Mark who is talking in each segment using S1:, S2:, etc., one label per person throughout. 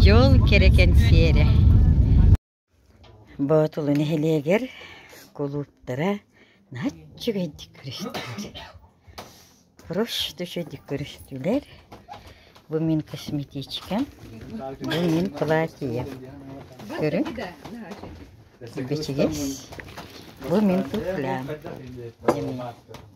S1: Дьол кэрэ кэнсиэрэ Боотулу нэһилиэгэр кулууптара наһаа үчүгэйдик көрүстүлэр. Проще үчүгэйдик көрүстүлэр. Бу мин косметичкам, бу мин платьем. Көрүҥ. Бэчигиэс. Бу мин туфлям.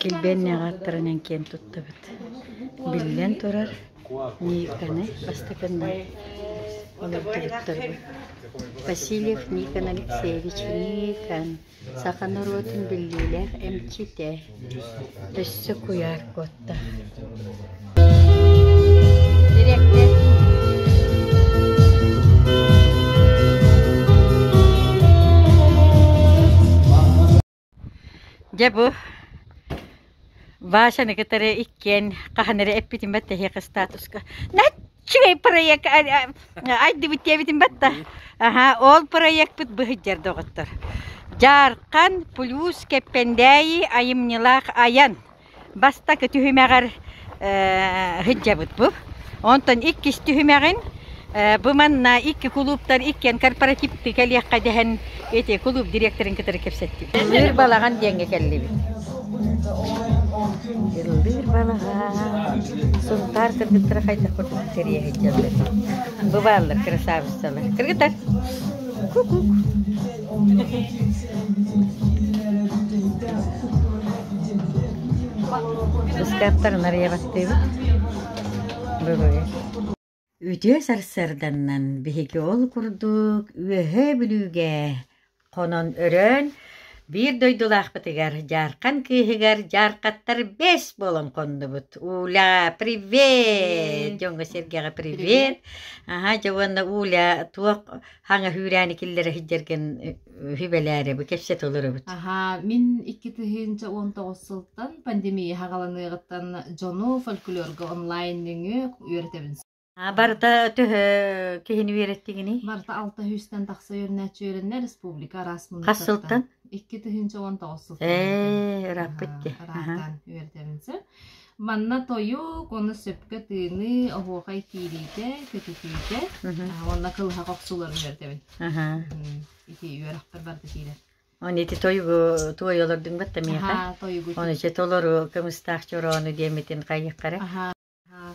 S1: Килбиэннээҕи аттарынан киэн туттабыт. Биллэн турар, Никаны бастакынан олордубуттарбыт. Васильев Никон Алексеевич Никон, саха норуотун биллиилээх эмчитэ, өссө куйаар куотта. Дьэ бу Васяны кытары иккиэн хаһан эрэ эппитим бат эһиэхэ статуска «Наччыгай проект айдыбыт диэбитим бат да аһа ол проекпыт быһыдьар доҕоттор Дьаархан плюс Кэппэндээйи айымньылаах айан бастакы түһүмэҕэр сылдьабытбыт. Онтон иккис түһүмэҕин бу манна икки кулууптар иккиэн корпоративты кэлиэххэ дэһэн эти кулууп директорын кытары кэпсэттим. Иллиир балаҕан диэҥҥэ кэллибит. Иллиир балаҕан Сунтаар кыргыттара хайдах курдук кэрийэ сылдьаллар. Бу бааллар красавицалар. Кыргыттар. Ку-ку. Ыстааттар нарыйа бастыыбыт. Бүгүн. Үтүө сарсыарданнан биһиги ол курдук Үөһээ Бүлүүгэ хонон өрөөн биир дойдулаахпытыгар дьаархан кыыһыгар дьаархаттар бэс буолан хоннубут. Уля, привет! Дьоҥҥо сэргэҕэ привет. Аха, дьэ уонна Уля туох Хаҥа сүүрээни киллэрэ сылдьаргын сүбэлээри бу кэпсэ толоробут. Аһаа, мин икки тыһыынча уон тоҕус сылтан пандемия хагаланыаҕыттан дьону фольклорга онлайн нөҥү үөрэтэбин. А барыта төһө киһини үөрэттигиний? Барыта алта сүүстэн тахса үөрэнээччи үөрэннэ республика араас Хас муннуктартан. сылтан? Икки тыһыынча уон тоҕус сылтан. Ээ, ырааппыт дии. Араартан үөрэтэбин сир. Манна тойук, уонна сөпкө тыыныы, оһуохай киириитэ, көтүтүүтэ Мгм. а, уонна кылыһах охсууларын көрдөбүн. Аһаа. Мм, ити үөрэхпэр барыта киирэр. Ону ити тойугу туойалардыҥ бат да миэхэ? Аһаа, тойугу Ону тиийдим. дьэ толору кымыстаах чороону диэммитин хайыаххарай? Аһаа, аһаа.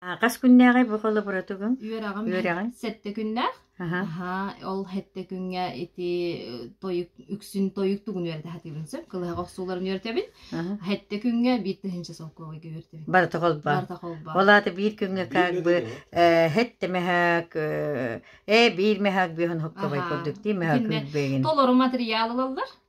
S1: Хас күннээҕи бу холобуратугун? Үөрэҕим Үөрэҕиҥ? сэттэ күннээх. Аха. Аһаа, ол сэттэ күҥҥэ ити э, тойук, үксүн тойук тугун үөрэтэ сатыыбын сөп. Кылыһах охсууларын үөрэтэбин. Аха. Сэттэ күҥҥэ биир тыһыынча солкуобайга үөрэтэбин. Барыта холбоон. Барыта холбоон. Ол аата биир күҥҥэ как бы э, hätte мөһөөк э, э биир мөһөөк бүһүн хопкобай Аха. курдук дии мөһөөк Итиннэ күрбэйгин. толору материал ылаллар.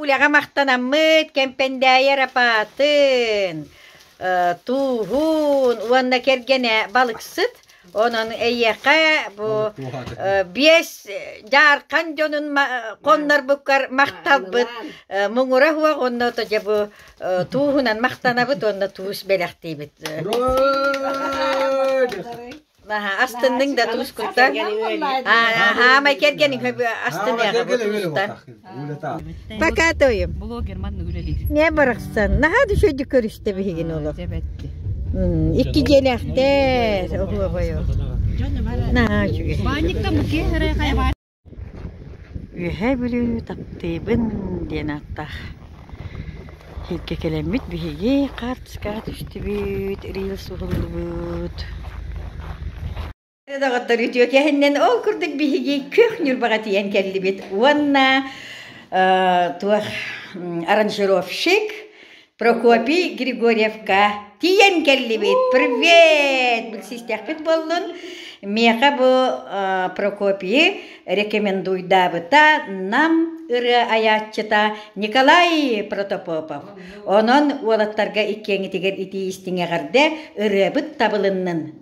S1: Уляҕа махтанаммыт Кэмпэндээйэр апаатын, э, тууһун уонна кэргэнэ балыксыт. Онон эйиэхэ бу э, биэс дьаархан дьонун коннорбуккар махталбыт э, муҥура уох онно то дьэ бу тууһунан махтанабыт уонна туус бэлэхтиибит. астынныҥ да тускута хаамай кэргэниҥ астыныаҕа пока тоем блогерман үлэлиир не барахсан наһаа düşөйдүк көрүстэ биһигин олох икки дьиэлээхтэр оһуобайо наһаа үчүгэй Үөһээ Бүлүү таптыыбын диэн ааттаах иһиккэ кэлэммит биһиги хаартыскаҕа түстүбүт, рил суһуллубут Үтүө кээһиннэн ол курдук биһиги күөх ньурбаҕа тиийэн кэллибит уонна туох аранжировщик Прокопий Григорьевка тиийэн кэллибит. Привет! Билсистэхпит буоллун. Миэхэ бу э, Прокопийы рекомендуйдаабыта нам ыры айааччыта Николай Протопопов. Онон уолаттарга иккиэҥитигэр итии истиҥэҕэрдэ ырыабыт табылыннын.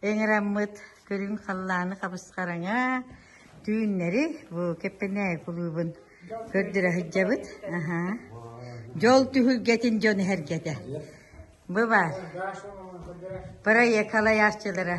S1: эҥэраммыт көрүҥ халлааны хабысхараҥа түүннэри бу Кэппэнээй кулуубун көрдөрө сылдьабыт. Аха. Дьол түһүлгэтин дьон иһэргэтэ. Бу баар. Проект халайааччылара